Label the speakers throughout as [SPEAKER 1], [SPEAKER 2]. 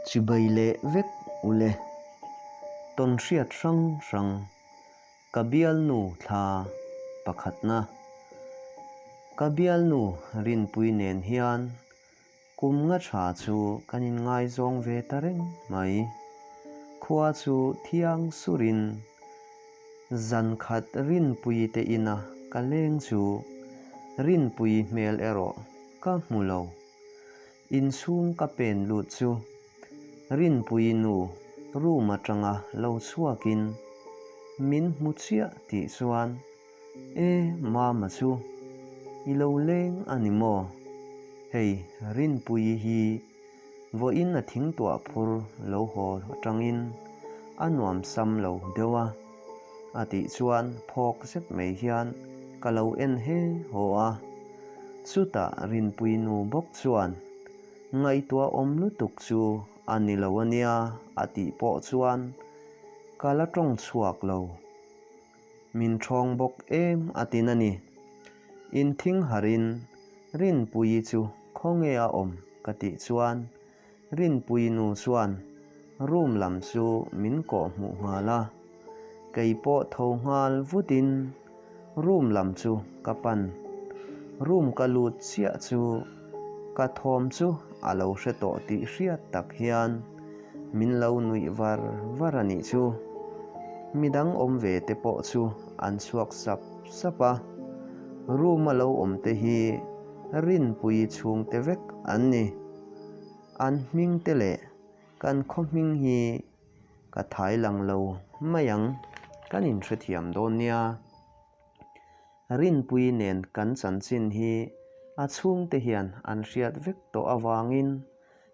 [SPEAKER 1] Chibai leh vek u le, tawn hriat hrang hrang. Ka bialnu thla pakhatna. Ka bialnu Rinpuii nen hian kum nga tha chu kan in ngaizawng ve ta reng mai. Khua chu thiang surin Zankhat Rinpuii te ina ka leng chu Rinpuii hmel erawh ka hmu lo. Insum ka pen lut chu Rinpuii nu room atanga lo chhuakin min hmu chiah tih chuan E mama chu i lo leng a ni maw? Hei Rinpuii hi vawiin a thingtuah phur lo haw atangin a nuamsam lo deuh a. a tih chuan phawk zet mai hian ka lo en he haw a. Chutah Rinpuii nu bawk chuan, Ngaihtuah awm lutuk chu a ni lo a nia a tih pawh chuan ka la tawng chhuak lo. Min thawng bawk em a tin a ni. In thing harhin Rinpuii chu khawnge a awm ka tih chuan, Rinpuii nu chuan, Room lam chu min kawh hmuh nghal a, kei pawh tho nghal vutin room lam chu ka pan. Room ka lut chiah chu ka thawm chu a lo hre tawh tih hriat tak hian min lo nuih var var a nih chu. Midang awm ve te pawh chu an chhuak sap sap a. Room a lo awm te hi Rinpuii chhungte vek an ni. An hming te leh kan khawhming hi ka thai lang lo mai ang, kan in hrethiam dawn nia. Rinpuii nen kan chanchin hi a chhungte hian an hriat vek tawh avangin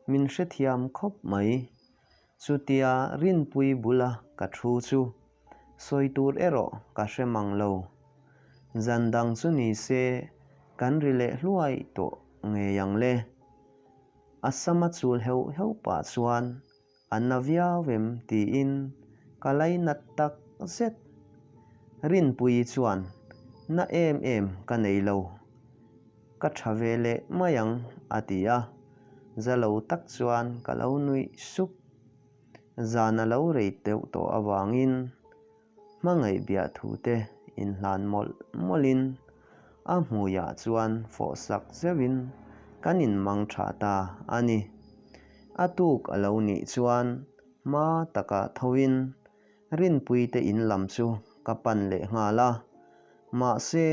[SPEAKER 1] min hrethiam khawp mai. Chutia Rinpuii bula ka thu chu sawi tur erawh ka hre mang lo. Zan dang chu ni se kan ri leh hluai tawh ngei ang le. A sama chul heuh heuh pah chuan a na viau em tiin ka lei nat tak zet. Rinpuii chuan na em em ka nei lo. Ka tha ve leh mai ang, a ti a. Za lo tak chuan ka lo nuih sup. Zan a lo rei teuh tawh avangin hmangaih biah thu te in hlan mawlh mawlhin a hmuiah chuan fawh sak zeuhin kan in mang tha ta a ni. A tuk a lo nih chuan hma taka thoin Rinpuite in lam chu ka pan leh nghal a, mahse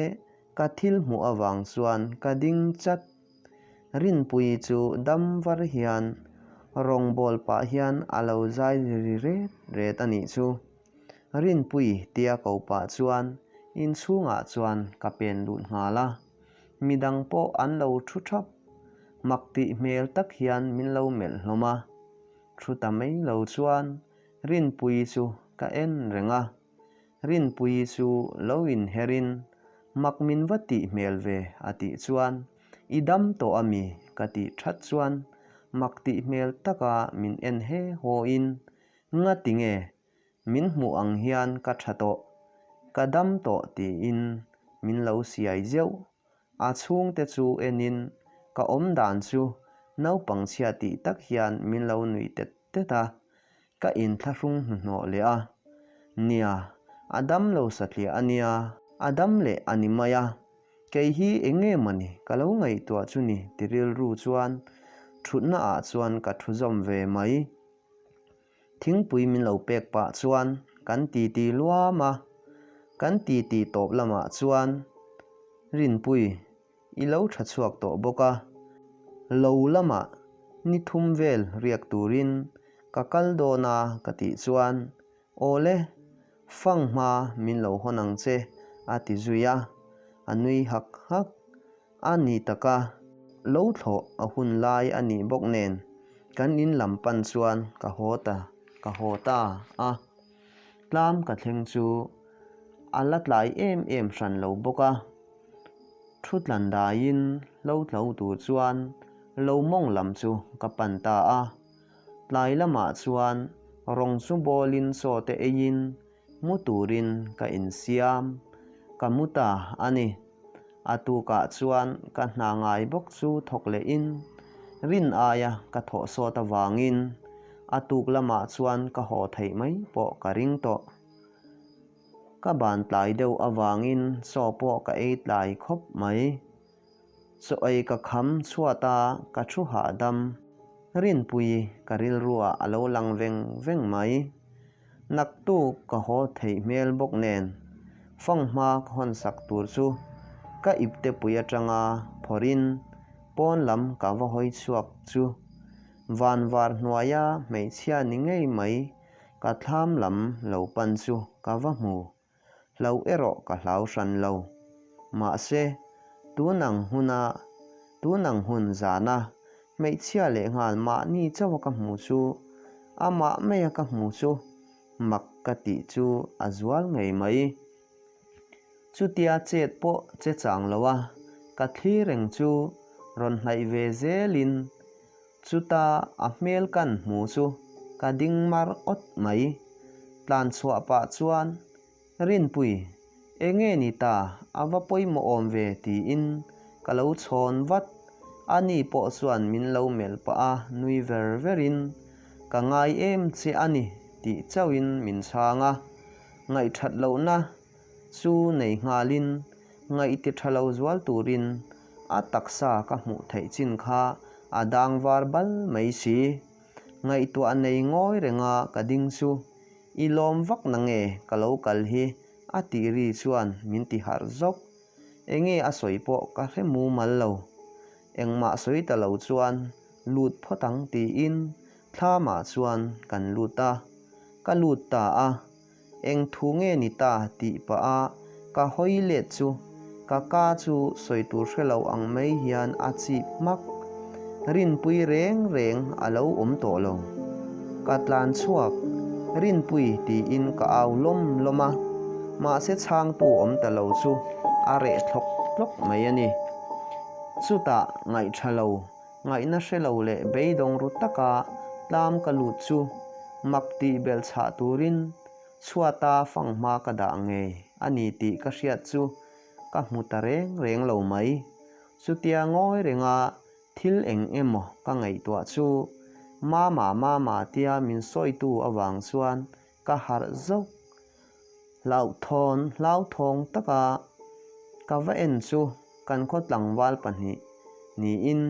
[SPEAKER 1] ka thil hmuh avang chuan ka ding chat. Rinpui chu dam var hian rawng ball pah hian a lo zai ri ri ret ret a nih chu. Rinpui tia ko pah chuan inchhungah chuan ka pen lut nghal a, midang pawh an lo thu thap. Mak tih hmel tak hian min lo melh hlawm a, thu ta mai lo chuan Rinpuii chu ka en reng a, Rinpuii chu lo inherin, Mak min va tih hmel ve a tih chuan i dam tawh a mi ka tih that chuan mak tih hmel taka min en he hawiin, Nga ti nge, min hmuh ang hian ka tha tawh, ka dam tawh tiin min lo siai zeuh A chhungte chu enin ka awm dan chu naupang chhia tih tak hian min lo nuih tet tet a, ka in thlahrung hnuhnawh leh a, Nia, a dam lo satliah a nia. A dam leh a ni mai a, kei hi enge mawni ka lo ngaihtuah chu ni ti rilru chuan thutnaah chuan ka thuzawm ve mai. Thingpui min lo pek pah chuan kan titi luam a, kan titi tawp lamah chuan Rinpuii i lo tha chhuak tawh bawk a, lo lama ni thum vel riak turin ka kal dawn a ka tih chuan Awle, fanghma min lo hawn ang che a ti zui a, a nui hak hak. A ni taka lo thlawh a hun lai a nih bawk nen kan in lam pan chuan ka haw ta ka haw ta a, tlam ka thleng chu a la tlai em em hran lo bawk a, thu tlan daiin lo tlo tur chuan lo mawng lam chu ka pan ta a, tlai lamah chuan rawng chu bawlin sawte eiin Mu turin ka insiam, ka mu ta a ni. A tukah chuan ka hna ngai bawk chu thawk leh in rin aia ka thawh sawt avangin a tuk lamah chuan ka haw theih mai pawh ka ring tawh. Ka ban tlai deuh avangin chaw pawh ka ei tlai khawp mai. Chawi ka kham chhuat a, ka thu hahdam. Rinpui ka rilruah a lo lang veng veng mai. Naktuk ka haw theih hmel bawk nen, fanghma ka hawnsak tur chu ka iptepui atanga phawrin pawn lam ka va hawi chhuak chu. Vanvar hnuaia hmeichhia ni ngei mai ka thlam lam lo pan chu ka va hmu. Hlauh erawh ka hlau hran lo. Mahse, tun ang huna, tun ang hun zana hmeichhia leh nghal mahni chauha ka hmu chu, amah maia ka hmu chu mak ka tih chu a zual ngei mai. Chutia chet pawh che chang loa ka thli reng chu rawn hnaih ve zelin, Chuta a hmel kan hmu chu ka ding mar awt mai. Tlanchhuah pah chuan, Rinpuii, enge ni ta a va pawimawh awm ve tiin ka lo chhawn vat. Ani pawh chuan min lo melh pah a, nui ver verin, Ka ngai em che a ni, tih chauhin min chhang a. Ngaihṭhat lohna Chu nei nghalin ngaih ti tha lo zual turin a taksa ka hmuh theih chin kha a dang var bal mai si. Ngaihtuah nei ngawi renga ka ding chu i lawm vak na nge ka lo kal hi a tih ri chuan min ti harh zawk. Enge a sawi pawh ka hre mumal lo. Engmah sawi ta lo chuan lut phawt ang tiin thla mah chuan kan lut a. Ka lut ta a. Eng thu nge ni ta? tih pah a, ka hawi let chu. Ka ka chu sawi tur hre lo ang mai hian a chip hmak. Rinpui reng reng a lo awm tawh lo. Ka tlan chhuak. Rinpui tiin ka au lawm lawm a. Mahse chhangtu awm ta lo chu a reh thlawk thlawk mai a ni. Chutah ngaihṭha lo. Ngaihna hre lo leh beidawng ru taka tlam ka lut chu mak tih belh chhah turin chhuata fang hma ka dah ngei a ni tih ka hriat chu ka hmu ta reng reng lo mai. Chutia ngawi renga thil eng emaw ka ngaihtuah chu mama mama tia min sawitu avang chuan ka harh zauh. Hlauhthawn hlauthawng taka ka va en chu kan khaw tlangval pahnih niin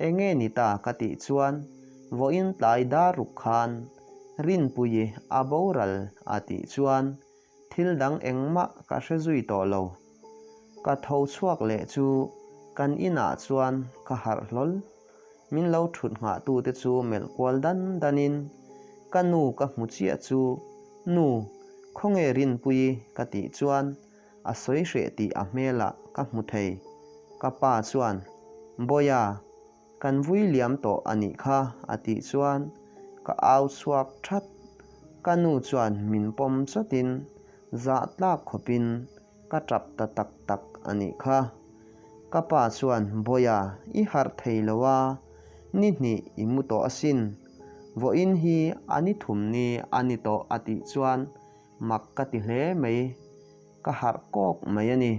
[SPEAKER 1] enge ni ta ka tih chuan vawiin tlai dar ruk khan Rinpuii a boral a tih chuan thil dang engmah ka hre zui tawh lo. Ka tho chhuak leh chu kan inah chuan ka harh hlawl Min lo thut nghah tu te chu melh kual dan dan in ka nu ka hmu chiah chu Nu, khawnge rinpui ka tih chuan a sawi hreh tih a hmel ah ka hmu thei. Ka pa chuan Bawia, kan vui liam tawh a nih kha a tih chuan ka au chhuak that. Ka nu chuan min pawm chawt in zah tlak khawp in, ka tap ta tak tak a nih kha. Ka pa chuan, Bawia, i harh thei lo a, ni hnih i mu tawh asin. Vawiin hi a ni thum ni a ni tawh a tih chuan mak ka ti hle mai. Ka harh kawk mai a ni.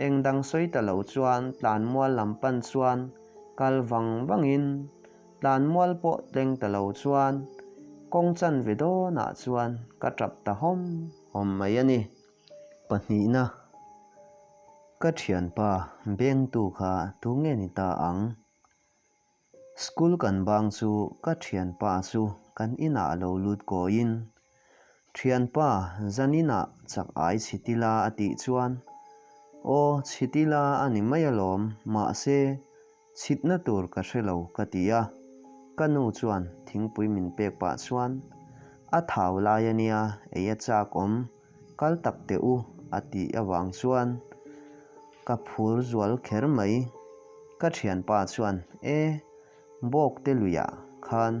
[SPEAKER 1] Eng dang sawi ta lo chuan tlanmual lam pan chuan kal vang vangin tlanmual pawh tleng ta lo chuan kawng chan ve dawnah chuan ka tap ta hawm hawm mai a ni. Pahnihna, Ka thianpa bengtu kha thu nge ni ta ang? School kan bang chu ka thianpa chu kan inah lo lut kawiin, Thianpa, zaninah chak ai chhitil a a tih chuan, Aw chhitil a a ni mai alawm, mahse, Chhitna tur ka hre lo ka ti a, ka nu chuan thingpui min pek pah chuan, A thau lai a nia, ei a chak awm, kal tak teh u a tih avang chuan ka phur zual kher mai. Ka thianpa chuan, E, bawkte luiah khan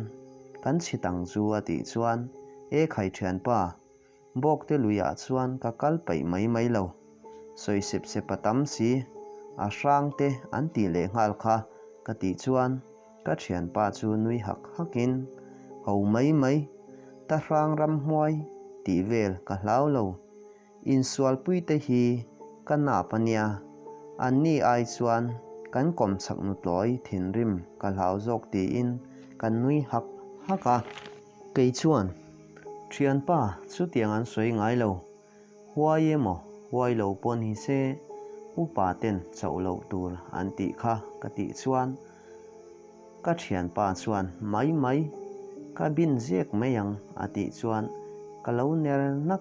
[SPEAKER 1] kan chhit ang chu a tih chuan, E khai thianpa, Bawkte luiah chuan ka kal paih mai mai lo. Sawi sep sep a tam si. A hrang te an tih leh nghal kha ka tih chuan ka thianpa chu nui hak hak in, Ho mai mai, ta hrang ram hmuai tih vel ka hlau lo. Insualpui te hi ka nap a nia, an ni ai chuan kan kawmchhak nutlawi thinrim ka hlau zawk tiin ka nui hak hak a. Kei chuan, Thianpa, chutiang an sawi ngai lo, huai emaw huai lo pawh ni se, upa ten chauh loh tur an tih kha ka tih chuan, ka thianpa chuan mai mai, ka bin ziak mai ang a tih chuan ka lo ner nak.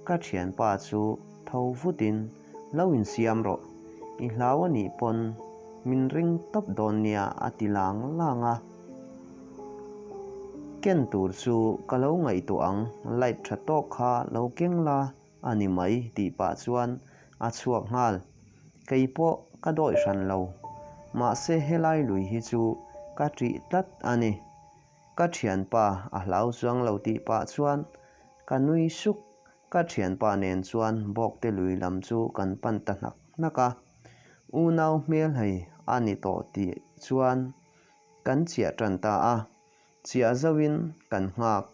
[SPEAKER 1] Ka thianpa chu tho vutin, Lo insiam rawh, i hlau a nih pawn min ring tawp dawn nia a ti lang lang a. Ken tur chu ka lo ngaihtuah ang, light tha tawk kha lo keng la a ni mai tih pah chuan a chhuak nghal. Kei pawh ka dawih hran lo, mahse helai lui hi chu ka ṭih tlat a ni. Ka thianpa a hlau chuang lo tih pah chuan ka nui suk. Ka thianpa nen chuan bawkte lui lam chu kan pan ta hnak hnak a. Unau hmel hei a ni tawh tih chuan kan chiah tan ta a. Chiah zauhin kan nghak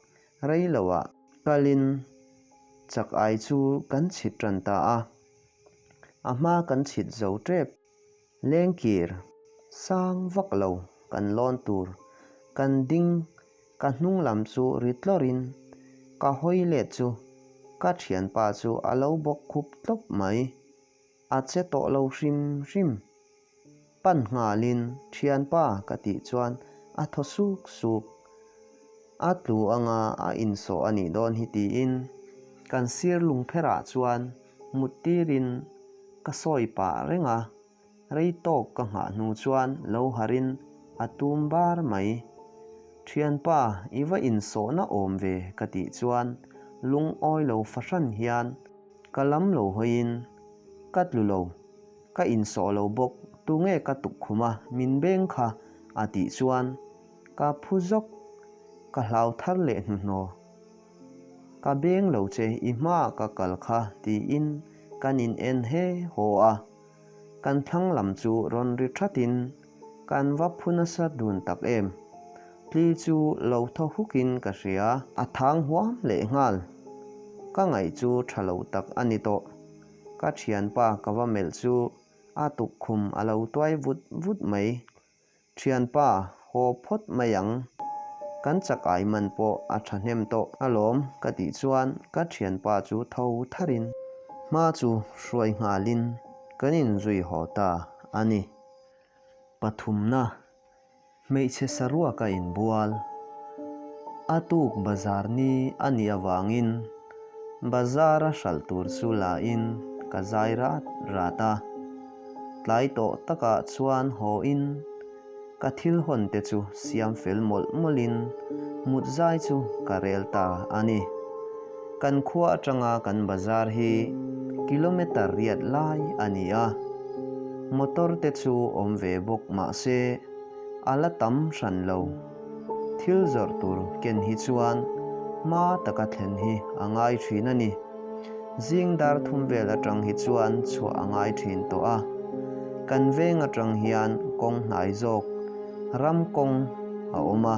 [SPEAKER 1] rei lo a. Kalin chak ai chu kan chhit tan ta a. A hma kan chhit zo tep. Lengkir sang vak lo kan lawn tur kan ding ka hnung lam chu ri tlawr in ka hawi let chu ka thian pa chu a lo bawk khup tlawp mai a che tawh lo hrim hrim pan nghal in thian pa ka tih chuan a thaw suk suk a tlu anga a insawh a nih dawn hi ti in kan sir lung pher ah chuan mut tirin ka sawi pah reng a, rei tawk ka nghah hnu chuan lo harh in a tum bar mai. Thianpa i va insawhna awm ve ka tih chuan lungawi lo fahran hian ka lam lo hawi in, Ka tlu lo, ka insawh lo bawk, tunge ka tuk khum a, min beng kha a tih chuan ka phu zawk, ka hlau thar leh hnuhnaw Ka beng lo che, i hmaa ka kal kha, tiin kan in en he haw a. Kan thlang lam chu rawn ri thatin kan va phu nasa dun tak em. Tli chu lo thaw hukin ka hria. A thang huam leh nghal. Ka ngaih chu tha lo tak a ni tawh. Ka thianpa ka va melh chu a tuk khum a lo tuai vut vut mai. Thianpa, haw phawt mai ang. Kan chak ai man pawh a thahnem tawh a lawm ka tih chuan ka thianpa chu tho thar in. Hma chu hruai nghal in kan in zui haw ta a ni. Pathumna, hmeichhe saruak a in bual. A tuk bazar ni a nih avang in bazar a hral tur chu la in ka zai rat rat a. Tlai tawh takah chuan haw in ka thil hawn te chu siam fel mawlh mawlh in mut zai chu ka rel ta a ni. Kan khua atanga kan bazar hi kilometer riat lai a ni a, motor te chu awm ve bawk mah se a la tam hran lo. Thil zawrh tur ken hi chuan hma taka thlen hi a ngai thin a ni. Zing dar thum vel atang hi chuan chhuah a ngai thin tawh a, kan veng atang hian kawng hnai zawk ram kawng a awm a,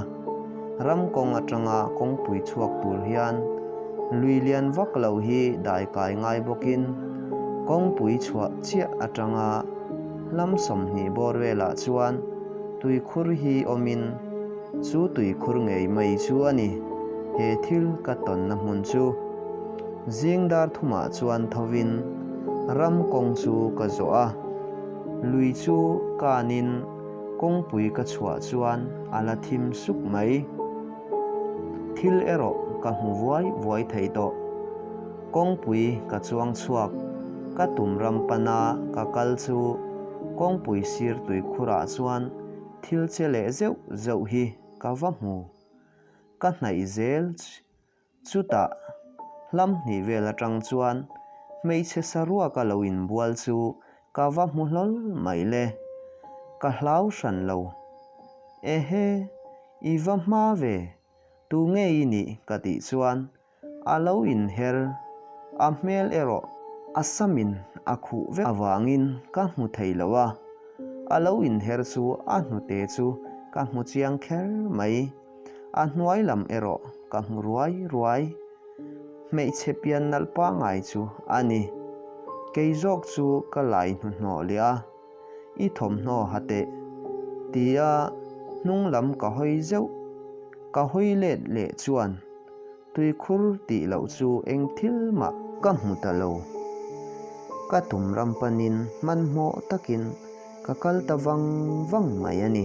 [SPEAKER 1] ram kawng atanga kawngpui chhuak tur hian lui lian vak lo hi dai kai ngai bawkin kawngpui chhuah chiah atanga lam sawmhnih bawr velah chuan tuikhur hi awmin, Chu tui khur ngei mai chu a ni. He thil ka tawnna hmun chu zing dar thumah chuan thovin ram kawng chu ka zawh a, lui chu kanin kawngpui ka chhuah chuan a la thim suk mai. Thil erawh ka hmu vuai vuai thei tawh. Kawngpui ka chuang chhuak, ka tum ram pana ka kal chu kawngpui sir tui khurah chuan Thil che leh zeuh zeuh hi ka va hmu, ka hnaih zel. Chutah hlam hnih vel atang chuan hmeichhe sa ruaka lo inbual chu ka va hmu hlawl mai le. Ka hlau hran lo. Ehe, i va hma ve, tu nge i nih ka tih chuan A lo inher a hmel erawh a samin a khuh vek avangin ka hmu thei lo a, a lo inher chu a hnute chu ka hmu chiang kher mai. A hnuai lam erawh ka hmu ruai ruai. Hmeichhe pian nalh pangai chu a ni. Kei zawk chu ka laihnawhnawh leh a. i thawmhnaw ha teh, tia hnung lam ka hawi zeuh. Ka hawi let leh chuan tuikhur tih loh chu eng thil mah ka hmu ta lo. Ka tum ram panin hmanhmawh takin ka kal ta vang vang mai a ni.